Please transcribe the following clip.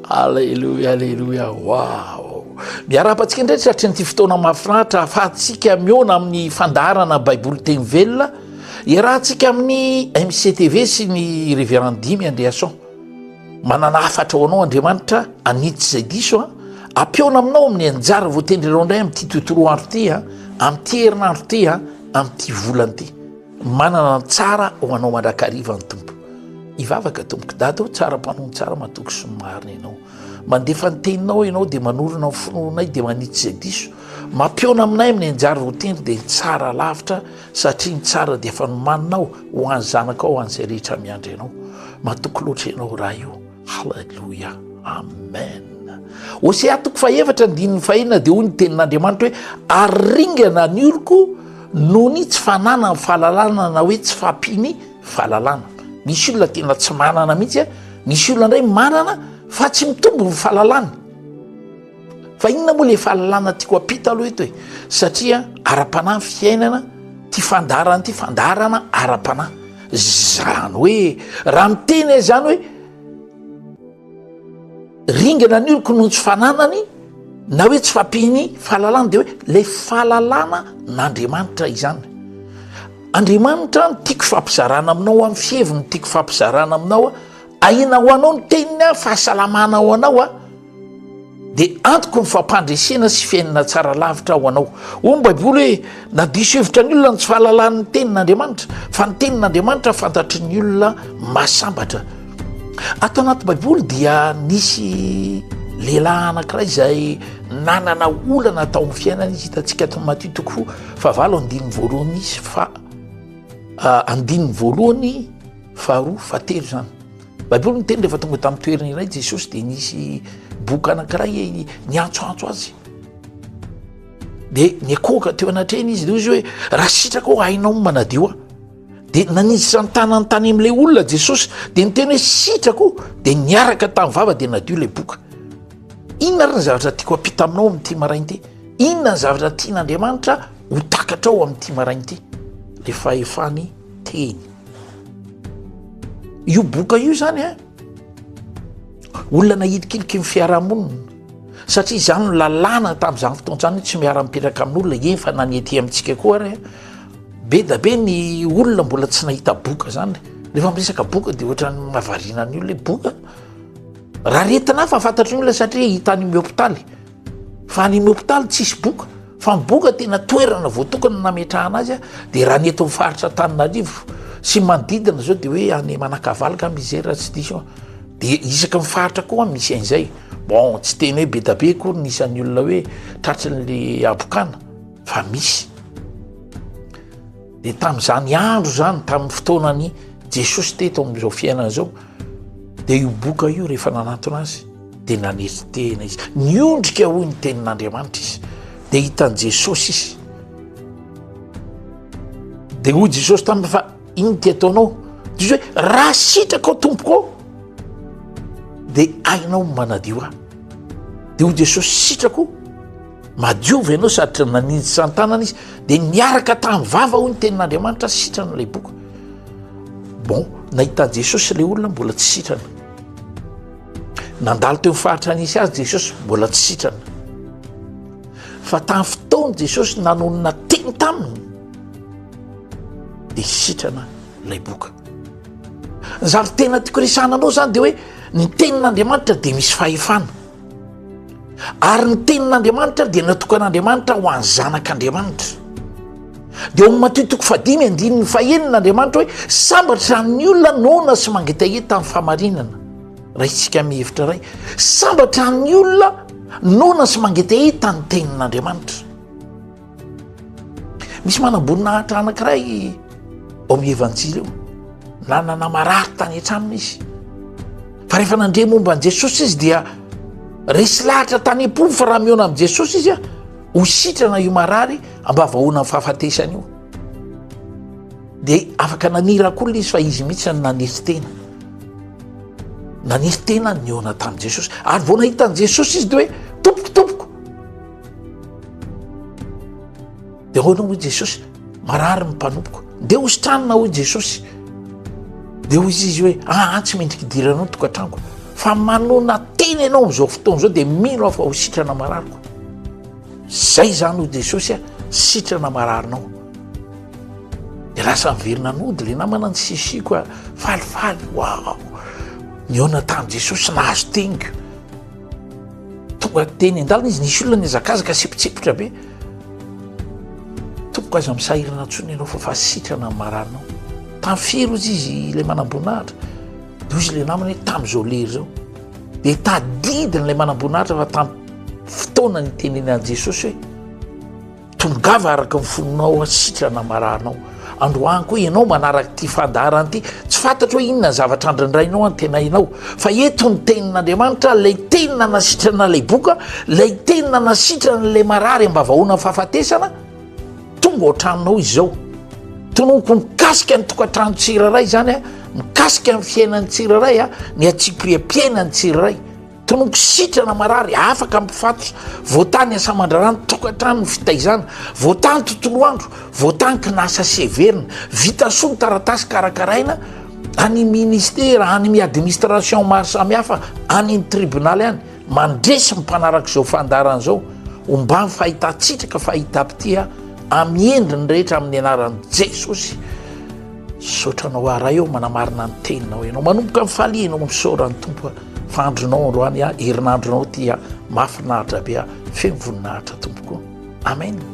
Alléluia, Alléluia, waouh Miarahaba antsika indray tratry an'ity fotoana mahafinaritra ahafahantsika mihaona amin'ny fandaharana Baiboly teny velona iarahantsika amin'ny MCTV sy ny Révérend Dimy Andriason. Manana hafatra ho anao Andriamanitra anitsy izay diso a. Ampihaona aminao amin'ny anjara voatendry anao indray amin'ity tontolo andro ity a, amin'ity herinandro ity a, amin'ity volana ity. Manana ny tsara ho anao mandrakariva ny Tompo. Hivavaka tompoko dada o, tsara mpanompo tsara matoky sy ny marina ianao. Mandefa ny teninao ianao dia manorina ny finoanay dia manitsy izay diso. Mampihaona aminay amin'ny anjara ho tendry dia ny tsara lavitra satria ny tsara dia efa nomaninao ho an'ny zanakao ho an'izay rehetra miandry anao. Matoky loatra ianao Ray o. Haleloia amen Hosea toko fahefatra andininy fahenina dia hoy ny tenin'Andriamanitra hoe ary ringana ny oroko noho ny tsy fananany fahalalana na hoe tsy fampiany fahalalana misy olona tena tsy manana mihitsy a misy olona indray manana fa tsy mitombo ny fahalalany Fa inona moa ilay fahalalana tiako hampita aloha eto e, satria ara-panahy ny fiainana, ity fandaharana ity, fandaharana ara-panahy. Izany hoe raha miteny aho izany hoe ringana ny oloko noho ny tsy fananany na hoe tsy fampian'ny fahalalana dia hoe ilay fahalalana n'Andriamanitra izany. Andriamanitra no tiako hifampizarana aminao, amin'ny fiheviny no tiako hifampizarana aminao, ahiana ho anao ny teniny, fahasalamana ho anao. dia antoko ny fampandresena sy fiainana tsara lavitra ho anao. Hoy ny Baiboly hoe na diso hevitra ny olona ny tsy fahalalan'ny tenin'Andriamanitra, fa ny tenin'Andriamanitra fantatry ny olona mahasambatra. Ato anaty Baiboly dia nisy lehilahy anankiray izay nanana olana tao amin'ny fiainana izy hitantsika ato Matio toko fa valo andininy voalohany izy fa ah, andininy voalohany faharoa fa telo izany. Baiboly miteny rehefa tonga tamin'ny toerana iray Jesosy dia nisy boka anankiray niantsoantso azy. Dia nikoaka teo anatrehany izy, dia hoy izy hoe raha sitraka ao hainao ny manadio aho. Dia nanitsitra ny tanany tany amin'ilay olona Jesosy, dia niteny hoe sitraka o, dia niaraka tamin'ny vava dia nadio ilay boka. Inona ary ny zavatra tiako hampita aminao amin'ity maraina ity? Inona ny zavatra tian'Andriamanitra ho takatrao amin'ity maraina ity? Ilay fahefany teny. io boka io zany a olona nahilikiliky ny fiarahamonina satria izany no lalàna tamin'izany fotoanzany hoe tsy miara-mipetraka amin'olona efa na ny aty amintsika koa ary be da be ny olona mbola tsy nahita boka zany rehefa miresaka boka de ohatrany mahavariana ny olona hoe boka raha retina hafa fantatry ny olona satria hitan'ny eo hopitaly Fa ny hopitaly tsisy boka, fa ny boka tena toerana voatokana nametrahana azy dia raha ny eto amin'ny faritra Antananarivo sy manodidina izao dia hoe any Manakavalo angamba izay raha tsy diso aho, dia isaky ny faritra koa misy an'izay. Bon, tsy tena hoe be dia be akory ny isan'ny olona hoe tratry ny le habokana fa misy. Dia tamin'izany andro izany, tamin'ny fotoanan'i Jesosy teto amin'izao fiainana izao, Dia io boka io rehefa nanantona azy dia nanetry tena izy. Niondrika hoy ny tenin'Andriamanitra izy dia hitan'i Jesosy izy. Dia hoy Jesosy taminy fa ino ty ataonao? Dia izy hoe raha sitrakao tompoko dia hainao ny manadio ahy. Dia hoy Jesosy sitrako. Madio ve ianao satria naninjy tsy an-tanana izy dia niaraka tamin'ny vava hoy ny tenin'Andriamanitra sitrana ilay boka. Bon, nahitan'i Jesosy ilay olona mbola tsy sitrana. Nandalo teo faritra nisy azy Jesosy mbola tsy sitrana. Fa tamin'ny fotoany Jesosy nanonona teny taminy dia sitrana ilay boka. Ny zavatra tena tiako resahana anao izany dia hoe ny tenin'Andriamanitra dia misy fahefana. ary ny tenin'andriamanitra dia natokan'andriamanitra ho any zanak'andriamanitra dia omy matio toko fadimy andininy fahenina andriamanitra hoe sambatra ny olona nona sy mangetaheta ny famarinana raha itsika mihevitra ray sambatra ny olona nona sy mangetaheta ny tenin'andriamanitra Misy manam-boninahitra anankiray ao amin'ny Evanjily io, nanana marary tany an-tranony izy. Fa rehefa nandre momba an'i Jesosy izy dia resy lahatra tany am-pony fa raha mihaona amin'i Jesosy izy a, ho sitrana io marary ambavahoana ny fahafatesany io. Dia afaka nanirakolina izy fa izy mihitsy no nanery tena. Nanery tena ny nihaona tamin'i Jesosy. Ary vao nahita an'i Jesosy izy dia hoe tompoko, tompoko. dia ahoana hoy jesosy marary ny mpanompoko dia hositranina hoy jesosy dia hoy izy izy hoe aa ah, tsy mendriky diranao ny tokantranoko fa manona tena ianao am'izao fotoana izao dia mino aho fa ho sitrana marariko zay zany hoy jesosy a sitrana mararinao dia lasa miverina nody le namana ny sisiko a falifaly wao ny aona tany jesosy nahazo teniko Tonga teny an-dalana izy, nisy olona nihazakazaka sy mpitsipika be. Tompoko aza amin'ny sahirana intsony ianao fa fa sitrana amin'ny maranao. Tamin'ny firy ozy izy ilay manam-boninahitra? Dia hozy ilay namany hoe tamin'izao lery izao. Dia tadidiny ilay manam-boninahitra fa tamin'ny fotoana nitenenan'i Jesosy hoe. Tongava araka ny fonao aho sitrana marahanao androany koa ianao manaraka ity fandaharana ity tsy fantatro hoe inona ny zavatra andrindrainao antenainao fa eto ny tenin'andriamanitra lay teny nanasitrana lay boka lay teny nanasitrana lay marary ambavahoana fahafatesana tonga ohatranonao izao tonoko mikasika ny tokantrano tsiraray zany a mikasika ny fiainan'ny tsiraray a ny atsipriapiaina ny tsiraray Tonoko sitrana marary afaka mpifatotra, voatany asa aman-draharaha ny tokantrano ny fitaizana, voatany tontolo andro, voatany kinasa sy heverina, vita soa ny taratasy karakaraina any ministera, any mi administration maro samihafa, any ny tribonaly any, mandresy ny mpanaraka izao fandaharana izao, homba ny fahitan-tsitraka, fahitam-pitia amin'ny endriny rehetra amin'ny anaran'i Jesosy. Misaotra anao Ray ô, manamarina ny teninao ianao, manomboka mifaliana ô, misaora ny Tompo. fa andronao androany a herinandronao ty a mahafinaritra be a feno voninahitra tompoko amen